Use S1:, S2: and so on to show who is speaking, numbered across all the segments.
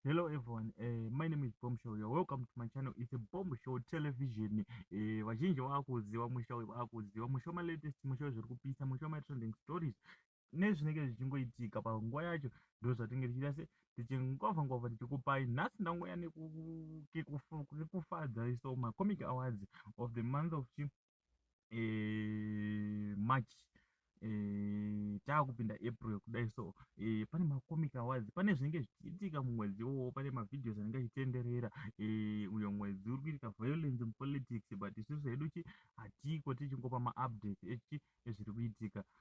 S1: Hello everyone, uh, my name is Bomb Show. You're welcome to my channel. It's a Bomb Show television. Eh, vazhinji uh, vakuziva musha uyu vakuziva musha ma latest musha zviri kupisa musha ma trending stories nezvinenge zvichingoitika panguva yacho ndo zvatinge tichiita se tichingova ngova tichikupai nhasi ndangouya nekufadza iso macomic awards of the month of chi eh, march eh, taakupinda april kudai so eh, pane macomic awards pane zvinenge zvichiitika mumwedzi iwowo pane mavideos anenge achitenderera eh, uyo mwedzi uri kuitika violence in politics but isusu hedu chi hatiko tichingopa maupdate echi ezviri kuitika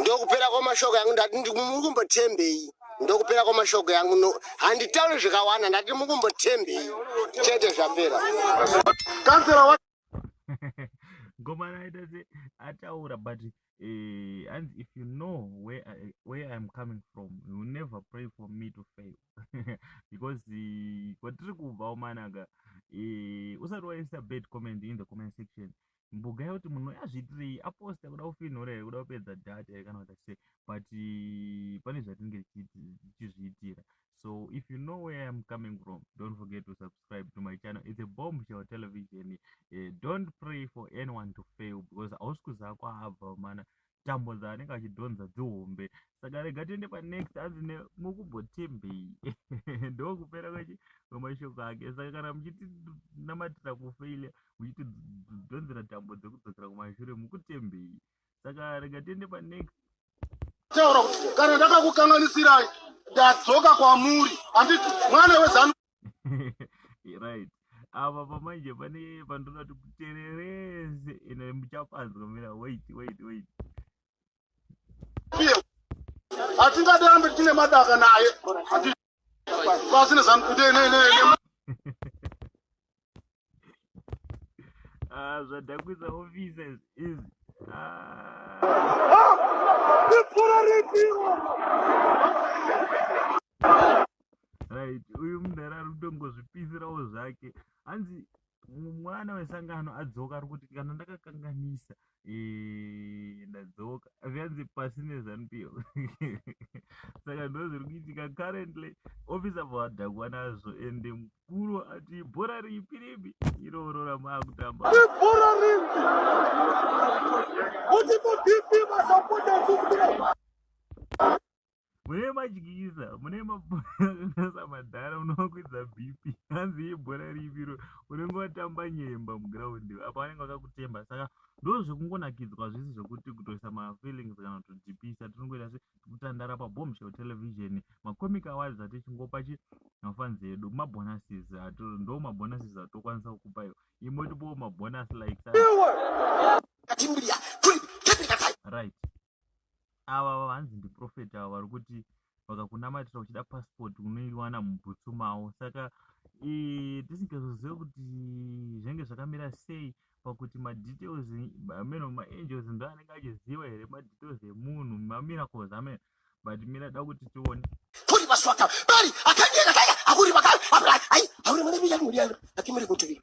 S1: ndokupera kwamashoko yangu ndati ndikumurikumbothembei ndokupera kwamashoko yangu no handitauri zvikawanda ndati mukumbothembei chete zvapera ngomana aita se ataura but eh, and if you know where I, where i'm coming from you will never pray for me to fail because eh, kwatiri kubva omanaka eh, usati waisa bad comment in the comment section mbuga yoti munhu uyu azviitirei aposta kuda kufinhura here kuda kupedza data here kana kuita sei but pane zvatinenge tichizviitira so if you know where iam coming from don't forget to subscribe to my channel its a bomb show television uh, don't pray for anyone to fail because hausi kuziva kwaabva mana tambo dzaanenge achidhonza dzihombe saka rega tiende panext anzi nemukumbotembei ndokupera kwechi kwemashoko ake saka kana muchitinamatira kufeile muchitidhonzera tambo dzekudzokera kumashure mukutembei saka rega tiende panext taura kuti kana ndakakukanganisirai ndadzoka kwamuri handiti mwana wezanu right apa pamanje pane pandinoti kutererese ende muchapanzwa mira wait wait wait hatingade ambe tine madaka naye pasine zankudenenene Ah, zvadhakwisa offices izvi ah. right uyu mudhara ari kutongozvipisirawo zvake hanzi mwana wesangano adzoka ari kuti kana ndakakanganisa Eh, ndadzoka zviyanzi pasi nezanu piyo saka ndo zviri kuitika currently office avo vadhakwa nazvo ende mukuru ati bhora ripi ripi iroro ramaakutamba ibhora ripi kuti mudp vasapotaisisire mune madyisa mune maasa madhara munovakwidza bp hanzi ibhora riviro unenge watamba nyemba mugraundi apa vanenge vakakutemba saka ndo zvekungonakidzwa zvisi zvekuti kutoisa mafeelings kana kutodhipisa tinongoita se tikutandara pabomshel television macomic awards atichingopa chi mafanzi edu mabonuses ndo mabonuses atokwanisa kukupa iwo imwe tipowo mabonus like right ava vanzi ndiprofet ava vari kuti vakakunamatira uchida passport unoiwana mubhutsu mavo saka tisingazozive kuti zvinenge zvakamira sei pakuti madetails ameno maangels ndo anenge achiziva here madetails emunhu mamiracles ameno but mira da kuti tione kuri maswaka bari akanyeka kaya akuri vakari apurai ai auri mwana miyani muriyangu akimuri kutuvi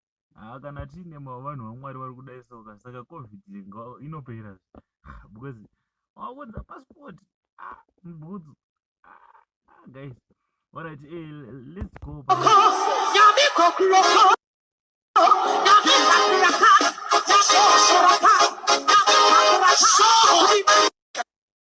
S1: Ah, kana tiine ma- vanhu vamwari vari kudai soka saka covid nga- inopera Ah, because wakunza passport ah, mbudzu ah, ah, guys alright eh, l- let's go pa- Sorry.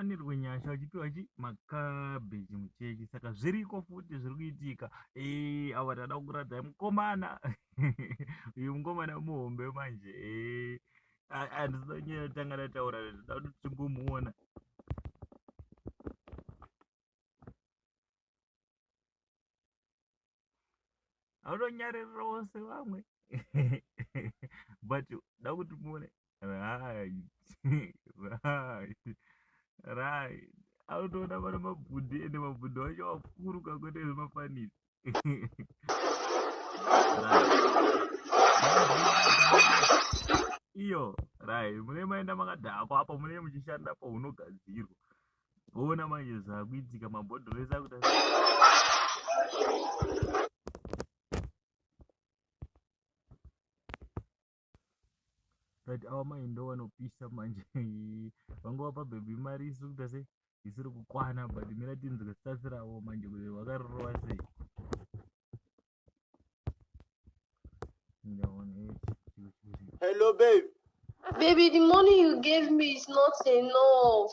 S1: wanirwe nyasha uchipiwa chi makabeji muchechi saka zviriko futi zviri kuitika e ava tada kuradzai mukomana uyu mukomana muhombe manje e andisonyera tanga tataura toda kuti timbomuona anonyarira wose vamwe but da kuti muone right right right anotoona vana mabhudhi ende mabhudhi wacho wakuru kakuita zvemafanisi iyo rai mune maenda makadhakwa apo mune muchishanda apo unogadzirwa voona manje zvakuitika mabhodhoro ese akuta but awa mai ndo vanopisa manje vangova pabhebhi mari isiri kuita sei isiri kukwana but mira tinzwe stats ravo manje kuti vakarorova sei Hello, babe. Baby, the money you gave me is not enough.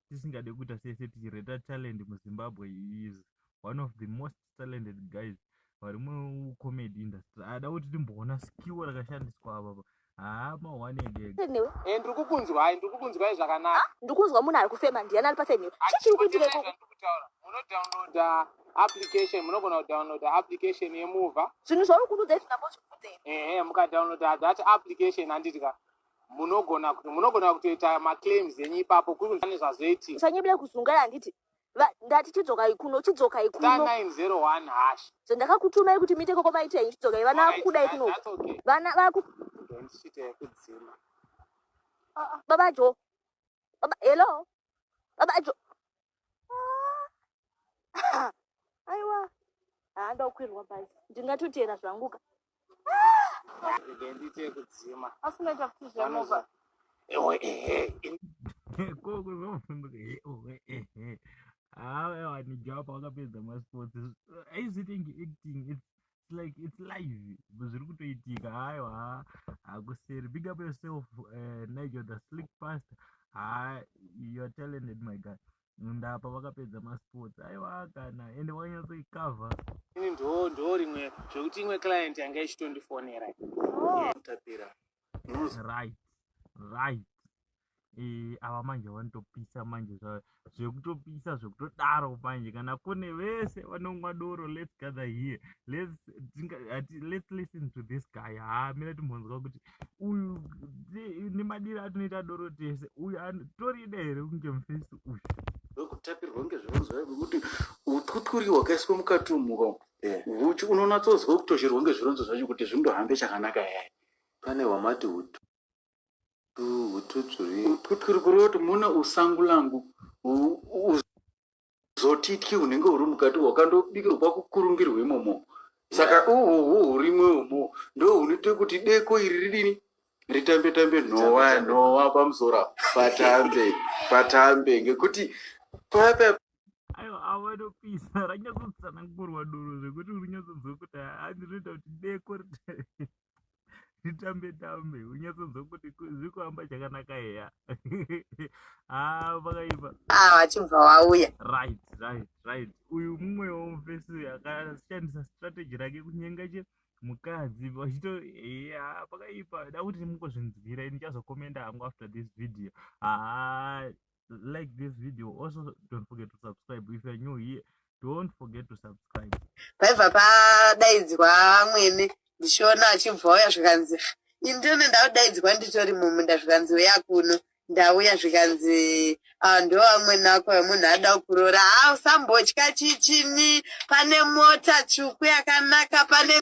S1: tisingade kuita sese tichireta talent muzimbabwe he is one of the most talented guys vari mucomedy industry ada kuti timboona skill rakashandiswa avapa haa mahwani egega newe Eh, ndiri kukunzwai ndiri kukunzwai zvakanaka ha ndiri kunzwa munhu ari kufema ndiani ari paside newe chii chiri kuitira ikoko ndikutaura munodownloada application munogona kudownloada application yemuva zvinhu zvauri kunudza izvi ndambozvibvunzei ehe mukadownloada that application handiti ka munogona kuti munogona kutoita maclaims enyu ipapo kuri kunzane zvazoitika usanyebere kuzungai handiti Va- ndati chidzokai kuno chidzokai star kuno 901 hash zvandakakutumai kuti muite koko maita henyu chidzokai vana Alright, vakukudai that- kuno that's okay. vana vaku Don't shit yekudzima baba jo baba hello baba jo ah, aiwa handa kukwirwa bhazi ndingatoteera zvanguka ndiite kudzima asi unoita kuti zvemovha ewe ehe koko zvavafumbuka ewe ehe hawa ewa nijapa wakapedza masports aizitingi acting it's it's like it's live zviri kutoitika hayo ha hakuseri big up yourself uh, nigel the slick past ha you're talented my guy ndapa vakapedza masports aiwa kana ende wanyatsoikavha ini ndo ndo rimwe zvekuti imwe client yanga ichitondifonera oh. tapira right right eh, ava manje vanotopisa manje zvekutopisa zvekutodaro manje kana kune vese vanonwa doro let's gather here let's, let's listen to this guy haa mira timhonzwa kuti uyu nemadiro atinoita doro tese uyu torida here kunge mufesi uyu wekutapirwa ngezvevonzwa vekuti utwutwuri wakaiswa mukati umuka eh. uchi unonatsonzwa kutosherwa ngezvironzo zvacho kuti zvindohambe chakanaka yaya pane wamati utu Twutsvuri kureva kuti mune usangu langu zotityi hunenge huri mukati hwakandobikirwa kwakukurungirwa imomo saka uhuhu hurimwe umo ndo hunoita kuti deko iri ridini ritambe tambe nhowa nhowa pamusora patambe patambe ngekuti papa ayo avanopisa ranyatsotsana ngorwa doro zvekuti uri nyatsonzwa kuti haa ndinoita kuti deko titambe tambe unyatsonzwa kuti zviri kuhamba chakanaka eya haa ah, pakaipa ah, wachibva wauya right right right uyu mumwe womufesi uyu akashandisa strategy rake kunyenga che mukadzi vachito eya ah, pakaipa da kuti mukuzvinzwira ini chazokomenda hangu after this video haa like this video also don't forget to subscribe if you're new here don't forget to subscribe paibva padaidzwa mwene ndichiona achibva auya zvikanzi indini ndaudaidzwa nditori mumunda zvikanzi uya kuno ndauya zvikanzi ah, ndo amwene ako munhu ada kuroora ha ah, usambotya chichini pane mota tsvuku yakanaka pane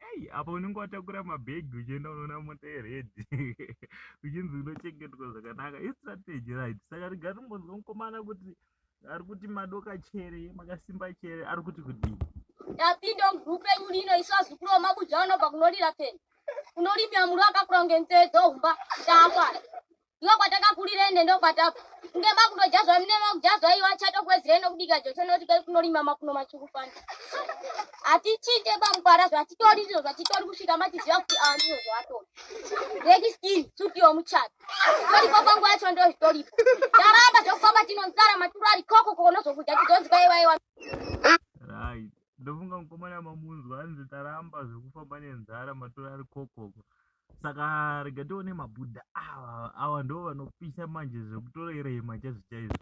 S1: Ei, apa unenge watakura mabhegi uchienda unoona mota yeredhi uchinzi unochengetwa zvakanaka istrategy right saka riga rimbonzwa mukomana kuti ari kuti madoka chere makasimba chere ari kuti kudii yapinda mugrup renyu lino isu azukuru vamabuja vanobva kunorira peni unorimira muru akakura kunge nzee dzohumba ndakwana ndiwo kwatakakurira ende ndokwatabva ngema kutojazwa mnema kujazwa iyo achatokwezira ende kubika jocho noti kai kunorima makuno matsvuku fani hatichite pamkwara zvatitori ndizvo zvatitori kusvika matiziva kuti aa ndizvo zvatori reki skin suti yomuchato toripo panguva yacho ndozvitoripo taramba zvokufamba tinonzara maturo ari koko kokonozokudya tizonzi kaiwaiwa ndofunga mukomana mamunzwa anzi taramba zvekufamba nenzara maturo ari kokoko saka rega tione mabhuda awa awa ndo vanopisa manje zvekutorerema chaizvo chaizvo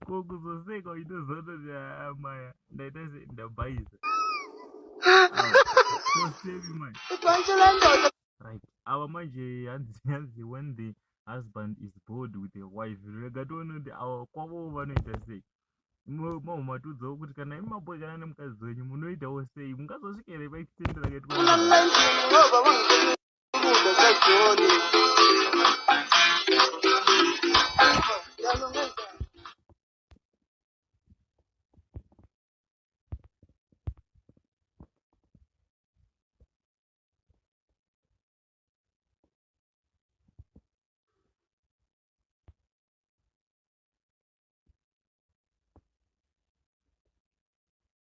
S1: ko kuzoseka uchizoona kuti ah, maya ndaita se ndabhaisa Awa, ko sevi manje right ava manje hanzi hanzi when the husband is bored with a wife rega toone kuti ava kwavowo vanoita sei mamwe matiudzawo kuti kana imi maboekana nemukadzi wenyu munoitawo sei mungazosvika here paekitendera kati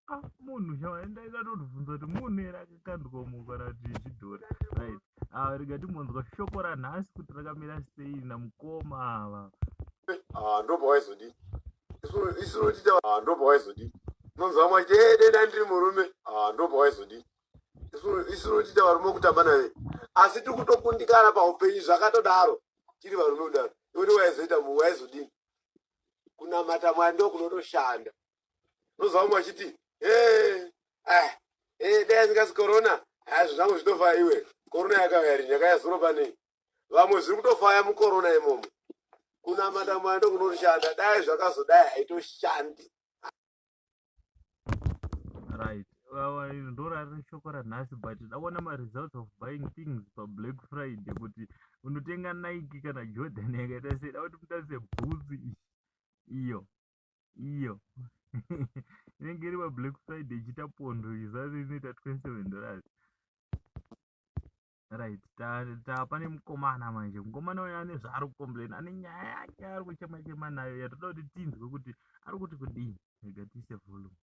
S1: Ah, munhu chawaenda ikatondibvunza kuti munhu here akakanduka umu kana kuti zvidhori right ah, rega timbonzwa shoko ranhasi kuti rakamira sei namukoma ava ah, ndobva waizodii isu notita ndobva waizodii unonzwa mwaiti ededa ndiri murume ndobva waizodii isu notiita varume kutamba naye asi tiri kutokundikana paupenyu zvakatodaro tiri varume kudaro iwoti waizoita mu waizodini kunamata mwari ndo kunotoshanda unozwa vamwe vachiti eh, eh, dai asingasi korona hazvo ah, zvangu zvitofaya iwe korona yakauya rini yakaya zuro panei vamwe zviri kutofaya mukorona imomo kunamata mwari ndo kunotoshanda dai zvakazodai haitoshandi right iri ndorari shoko ranhasi but dakuona maresults of buying things pablack friday kuti unotenga nike kana jordan yakaita sei da kuti mutase bhutsu iyo iyo inenge iri pablack friday ichiita pondo izari inoita 27 dollars right tapane mukomana manje mukomana uyo ane zvaari kucomplaina ane nyaya yake ari kuchema chema nayo yatoda kuti tinzwe kuti ari kuti kudii rega tiise volume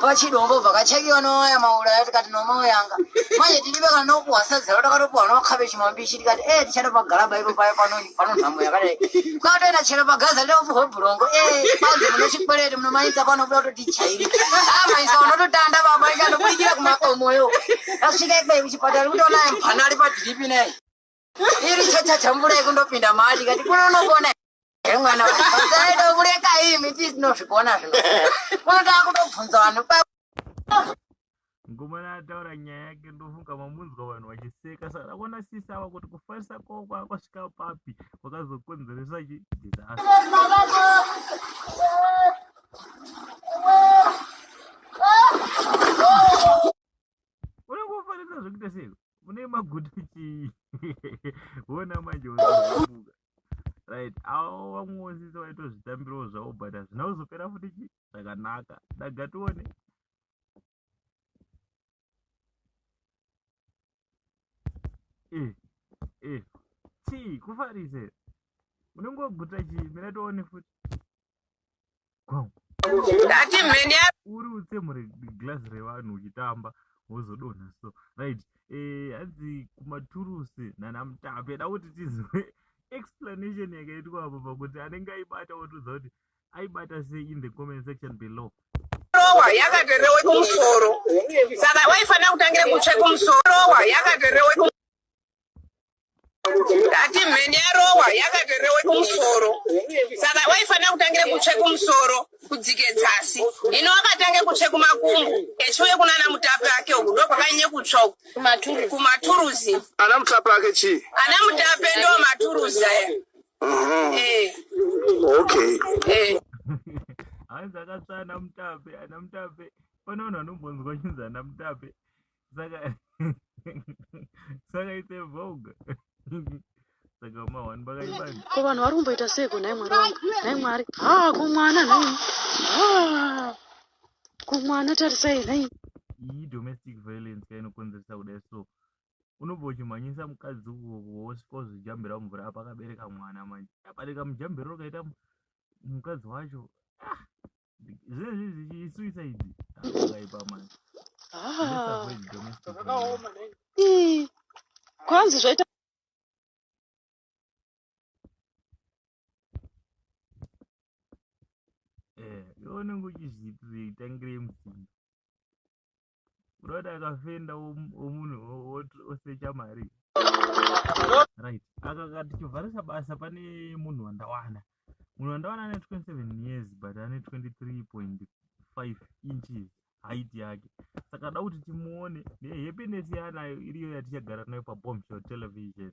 S1: pachidombo vakachekiwa noya mauraya tikati nomauyanga manje tiri vekanokuhwasadza takatopuhwa nomakhabechi mambishi tikati e eh, tichatopagalaba ipo paye panonyi Pano nhamo yakadai. Kwatoenda chero pagaza leo vuho brongo. Eh, kwanzi mune chikwereti mune maisa pano kuda kuti tichaire. Ah, maisa unototanda baba ika ndokuikira kumakomo yo. Asvika ikwe kuchipatara kuti ona mpana ari padripi nei. Iri chacha chambura ikundopinda mari kati kuno unokona. Eh, mwana wangu. Saido kureka imi tisinozvikona zvino. Kuno takutobvunza vanhu. mukomana ataura nyaya yake ndofunga mamunzwa vanhu vachiseka saka ndakuona sisi ava kuti kufarisa kwavo kwakasvika papi kwakazokonzeresa chi disaster unenge ufarisa zvekuita sei une maguta chii wona manje unabuka right avo vamwe sisi vaitozvitambirawo zvavo but hazvina kuzopera futi chii zvakanaka daga tione eh eh chii kufarise unenge waguta chii mira tione futi gwau ndati mheni ya uri utse mure glass revanhu uchitamba wozodonha so right eh hanzi kumaturusi nana mutape da kuti tizive explanation yakaitwa apo pakuti anenge aibata wotiudza kuti aibata sei in the comment section below rowa yakaterewe kumusoro saka waifanira kutangira kutsve kumusoro rowa yakaterewe ndati mheni yarowa yakaterewe kumusoro saka waifanira kutangira kutsve kumusoro kudzike dzasi ino wakatange kutsve kumakumbo echiuye kunana mutapi ake uku ndokwakanyanye kutsva kumaturuzi ana mutapi ake chii ana mutapi ndo maturuzi aya Mhm. Eh, Okay. eh. hanzi akatsva ana mutape ana mutape pane vanhu vanombonzwa chinzi ana mutape saka saka ite vogue saka mahwani vakaibani ko vanhu vari kumboita seiko nhai mwari wangu nhai mwari ha kumwana nhai ha kumwana tarisai nhai iyi domestic violence ka inokonzeresa kudai so unobva uchimhanyisa mukadzi wosvika wozvijambira mumvura apa akabereka mwana manje abereka mujambiro rakaita mukadzi wacho ah, zvinezvi zvichisuicide akaipa manje ah. kwanzi zvaita eh, unenge uchizviitangire musinga unoda akafenda womunhu osecha mari right akaka tichivharisa basa pane munhu wandawana munhu wandawana ane 27 years but ane 23.5 inches height yake saka da kuti timuone nehappiness yaanayo iriyo yatichagara nayo pabomshel television